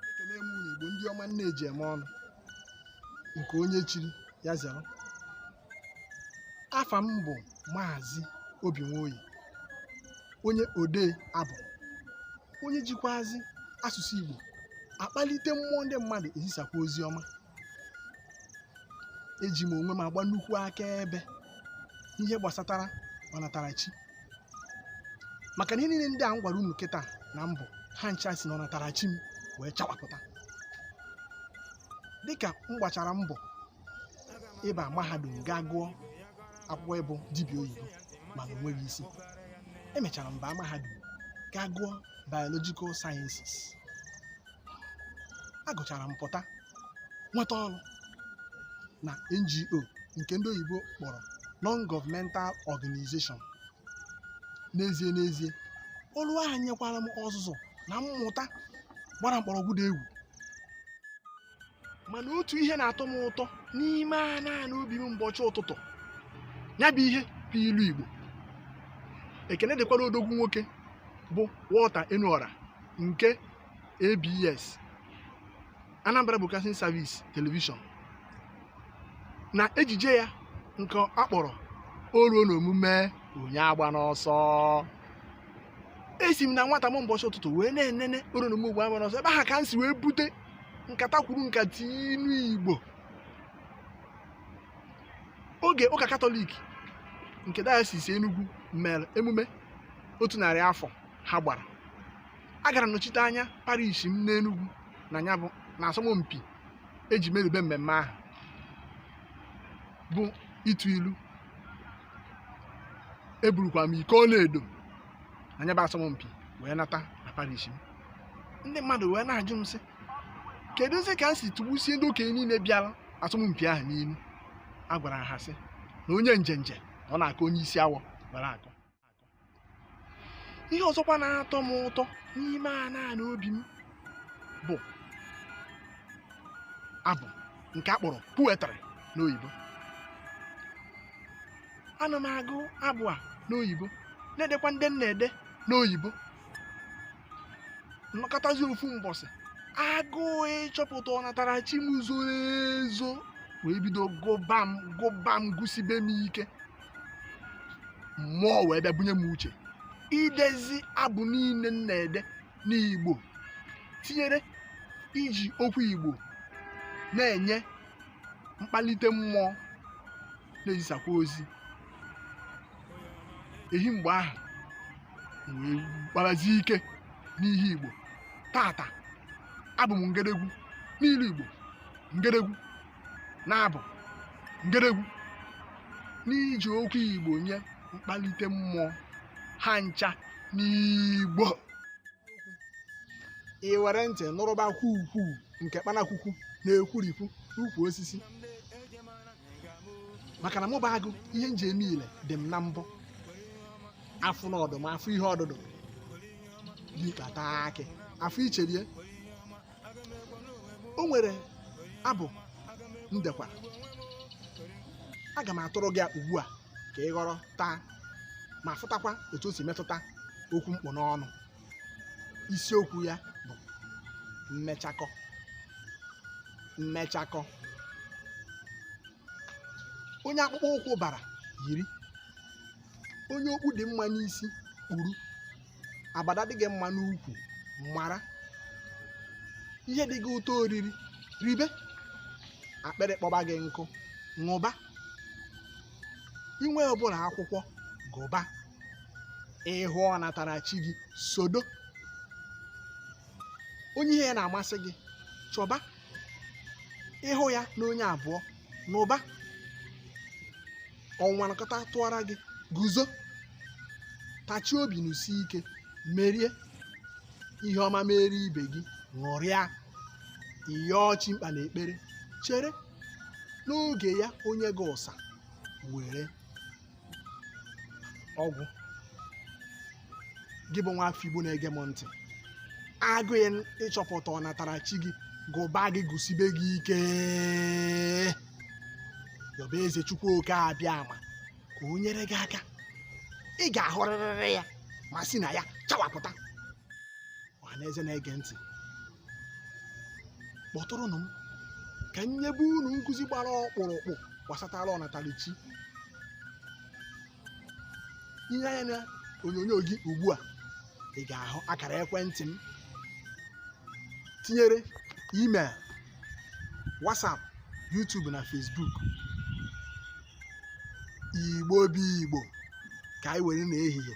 ekele m unu igbo ndị ọma nne eji eme ọnụ nke onye chiri ya zere afa m bụ maazị obi nwoye onye odee abụ onye jikwazi asụsụ igbo akpalite mmụọ ndị mmadụ ezisakwa ozi ọma eji m onwe m agba nnukwu akaebe n'ihe gbasatara ọnatarachi maka na ihe niile ndị a m gwara unu kịta na mbụ ha ncha si na ọnatarachi m wee chawapụta dịka m gbachara mbọ ịba mahadum gaa gụọ akwụkwọ ịbụ dibịa oyibo mana o nweghị isi emechara m baa mahadum gaa gụọ biological sciences agụchara m pụta nweta ọrụ na NGO nke ndị oyibo kpọrọ non-governmental organization n'ezie n'ezie ọrụ ahụ nyekwara m ọzụzụ na mmụta gbara mkpọrọgwụ dị egwu mana otu ihe na-atọ m ụtọ n'ime ana ana obi m mgbachi ụtụtụ ya bụ ihe bụ ilu Igbo ekene dịkwara odogwu nwoke bụ Walter Eneore nke abs anambra broadcasting service television na ejije ya nke a kpọrọ o ruo n'omume onye agbana ọsọ esi m na nwata m mgbachi ụtụtụ wee na-enene o ruo n'omume onye agbana ọsọ ebe aha ka m si wee bute nkata kwuru nkata inu igbo oge ụka katọlik nke diocese enugwu mere emume otu narị afọ ha gbara agara m nọchite anya parish m n'Enugwu na asọmpi eji merube mmemme ahụ bụ ịtụ ilu eburukwa m iko ọlaedo na ya bụ asọmpi wee nata na parish m ndị mmadụ wee na-ajụ m sị keduzi ka m si tụgbusie ndị okenye niile bịara asọmpi ahụ n'ilu a gwara ha sị na onye njenje na ọ na-aka onye isi awọ gwara akọ ihe ọzọkwa na-atọ m ụtọ n'ime ana ana obi m bụ abụ nke a kpọrọ poetry n'oyibo ana m agụ abụ a n'oyibo na-edekwa ndị m na-ede n'oyibo m nọkatazi ofu mbọsị agụụ ịchọpụta ọnatarachi m zoro ezo wee bido gụba m gụba m gụsibe m ike mmụọ wee bịa bunye m uche idezi abụ niile m na-ede n'igbo tinyere iji okwu igbo na-enye mkpalite mmụọ na-ezisakwa ozi ehi mgbe ahụ wee kparazie ike n'ihe igbo tata abụ m ngedegwu n'ilu igbo ngedegwu n'abụ ngedegwu n'iji okwu igbo nye mkpalite mmụọ ha ncha n'igbo i were ntị nụrụba kwukwu nke kpanakwukwu na-ekwurikwu n'ukwu osisi maka na mụ bụ agụ ihe m ji eme ile dị m na mbọ afụ na ọdụm afụ ihe ọdụdụ tikpata akị afụ icherie o nwere abụ m dekwara aga m atụrụ gị ya ugbu a ka ị ghọrọta ma fụtakwa etu o si metụta okwu m kpụ n'ọnụ isiokwu ya bụ mmechakọ mmechakọ onye akpụkpọ ụkwụ bara yiri onye okpu dị mma n'isi kpuru abada dị gị mma n'ukwu mara ihe dị gị ụtọ oriri ribe akpịrị kpọba gị nkụ ṅụba i nwee ụbụlụ akwụkwọ gụba ị hụ ọnatarachi gị sodo onye ihe ya na-amasị gị chọba ị hụ ya na onye abụọ nụba ọnwa nakọta tụọra gị guzo tachie obi nụsie ike merie ihe ọma mere ibe gị ṅụrịa ị yọọ chi mkpa n'ekpere chere n'oge ya o nye gị ụsa were ọ gwụ gị bụ nwa afọ igbo na-ege m ntị agụụ ịchọpụta ọnatarachi gị gụba gị gụsibe gị ike yọba eze chukwu oke abịama ka o nyere gị aka ị ga-ahụrịrịrị ya ma si na ya chawapụta ọha na eze na-ege ntị kpọtụrụnụ m ka m nyebe unu nkụzi gbara ọkpụrụkpụ gbasatara ọnatalichi i lee anya na onyonyo gị ugbu a ị ga-ahụ akara ekwentị m tinyere email whatsapp youtube na facebook igbo bụ igbo ka anyị were na ehihie